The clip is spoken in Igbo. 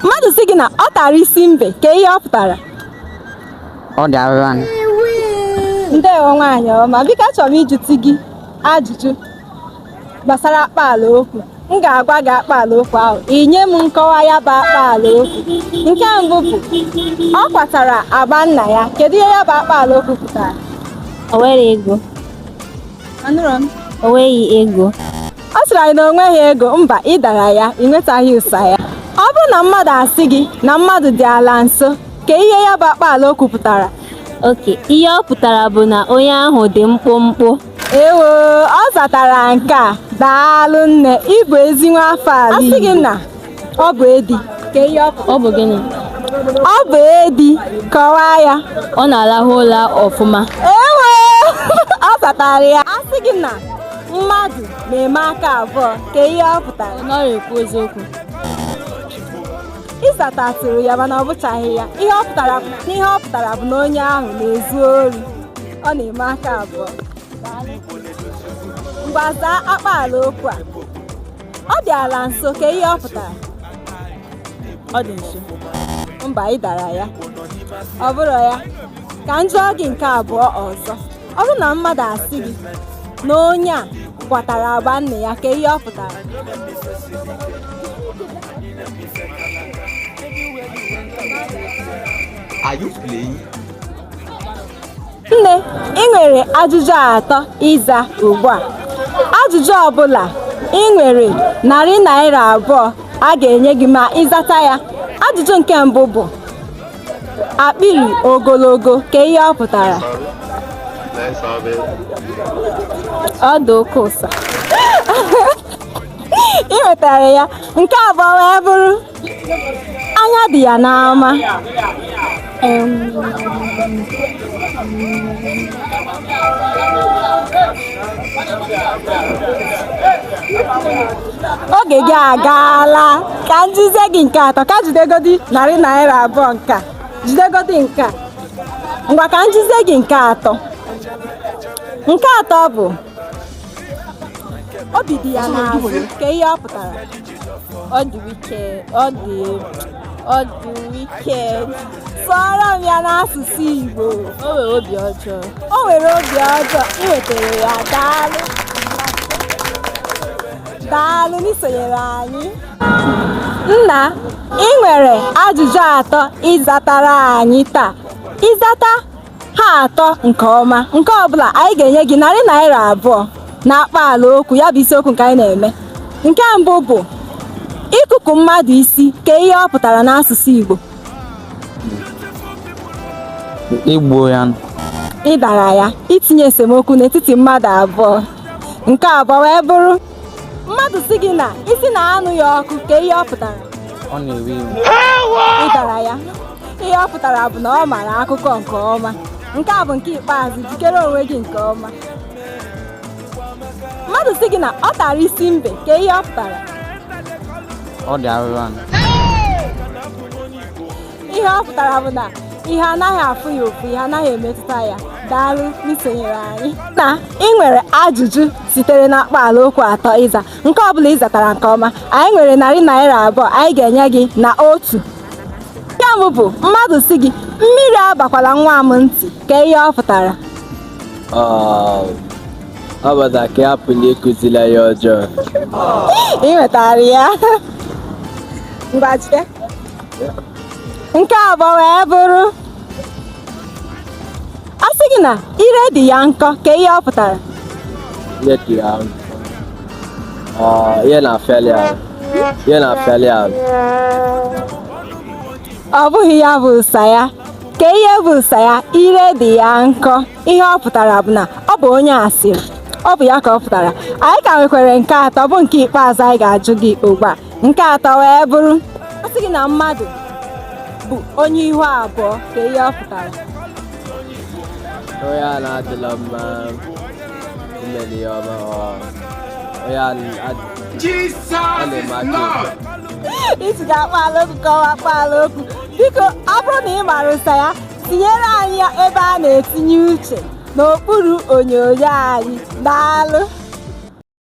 mmadụ sị gị na ọ tara isi mbe kee ihe ọ pụtara ọ dị arịra ndewo nwaanyị ọma biko achọrọ m ịjụtụ gị ajụjụ gbasara akpaala okwu m ga-agwa gị akpaala okwu ahụ i nye m nkọwa ya bụ akpaala okwu nke mbụ bụ ọ kwatara agba nna ya kedu ihe ya bụ akpaala okwu pụtara o nwere ego anụrụ m o nweghị ego ọ sịrị anyị na o nweghị ego mba ị dara ya i nwetaghị ụsa ya ọ bụrụ na mmadụ asị gị na mmadụ dị ala nso kee ihe ya bụ akpaala okwu pụtara okay ihe ọ pụtara bụ na onye ahụ dị mkpụmkpụ ewoo ọ zatara nke a daalụ nne ị bụ ezi nwa afọ ala Igbo. A sị gị na ọ bụ edi kee ihe ọ bụ ọ bụ gịnị ọ bụ edi kọwaa ya ọ na-alahụ ụla ọfụma ewoo ọ zatara ya a sị gị na mmadụ na-eme aka abụọ kee ihe ọ pụtara ọ narọ ekwu eziokwu ị zatatụrụ ya mana ọ bụchaghị ya ihe ọ pụtara bụ na ihe ọ pụtara bụ na onye ahụ na-ezu ori ọ na-eme aka abụọ ngwa zaa akpaala okwu a ọ dị ala nso kee ihe ọ pụtara ọ dị nso mba ị dara ya ọ bụrụ ya ka m jụọ gị nke abụọ ọzọ ọ bụrụ na mmadụ asị gị na onye a kwatara agba nne ya kee ihe ọ pụtara Are you playing? nne i nwere ajụjụ atọ ịza ugbu a ajụjụ ọbụla i nwere narị naira abụọ a ga-enye gị ma ị zata ya ajụjụ nke mbụ bụ akpịrị ogologo kee ihe ọ pụtara ọ dụ oke ụsa i nwetara ya nke abụọ wee bụrụ anya dị ya n'ama oge gị agaala ka m jụzie gị nke atọ ka jidegodi narị naira abụọ nke a jidegodi nke a ngwa ka m jụzie gị nke atọ nke atọ bụ obi dị ya n'azụ kee ihe ọ pụtara ọ dị wicked ọ dị ọ dị wicked sụọrọ m ya n'asụsụ Igbo o nwere obi ọjọọ o nwere obi ọjọọ i nwetara ya daalụ daalụ n'isonyere anyị nna i nwere ajụjụ atọ ịzatara anyị taa ị zata ha atọ nke ọma nke ọbụla anyị ga-enye gị narị naira abụọ na akpaala okwu ya bụ isiokwu nke anyị na-eme nke mbụ bụ ịkụkọ mmadụ isi kee ihe ọ pụtara n'asụsụ Igbo igbu ya ị dara ya itinye esemokwu n'etiti mmadụ abụọ nke abụọ wee bụrụ mmadụ sị gị na isi na-anụ ya ọkụ kee ihe ọ pụtara ọ na-ewe iwe ị dara ya ihe ọ pụtara bụ na ọ mara akwụkwọ nke ọma nke a bụ nke ikpeazụ jikere onwe gị nke ọma mmadụ sị gị na ọ tara isi mbe kee ihe ọ pụtara ọ dị arụrụ ala ihe ọ pụtara bụ na ihe anaghị afụ ya ụfụ ihe anaghị emetụta ya daalụ n'isonyere anyị na i nwere ajụjụ sitere na akpaala okwu atọ ịza nke ọbụla ị zatara nke ọma anyị nwere narị naira abụọ anyị ga-enye gị na otu nke mbụ bụ mmadụ sị gị mmiri abakwala nwa m ntị kee ihe ọ pụtara um, ọ bụ na ka a hapụ ịkụzili ya ọjọọ i nwetara ya ngwa jide nke abụọ wee bụrụ a sị gị na ire dị ya nkọ kee ihe ọ pụtara ire dị ya nkọ ah, ihe na-afịalị ahụ ihe na-afịalị ahụ ọ bụghị ya bụ ụsa ya kee ihe bụ ụsa ya ire dị ya nkọ ihe ọ pụtara bụ na ọ bụ onye asịrị ọ bụ ya ka ọ pụtara anyị ka nwekwara nke atọ bụ nke ikpeazụ anyị ga-ajụ gị ugbu a nke atọ wee bụrụ a sị gị na mmadụ bụ onye ihu abụọ kee ihe ọ pụtara onye a na-adịla mma imeli ya ọma ọ onye a na-adị Jesus is Lord. a sị gị akpaala okwu kọwaa akpaala okwu biko ọ bụrụ na ị mara ụsa ya tinyere anyị ya ebe a na-etinye uche n'okpuru onyonyo anyị daalụ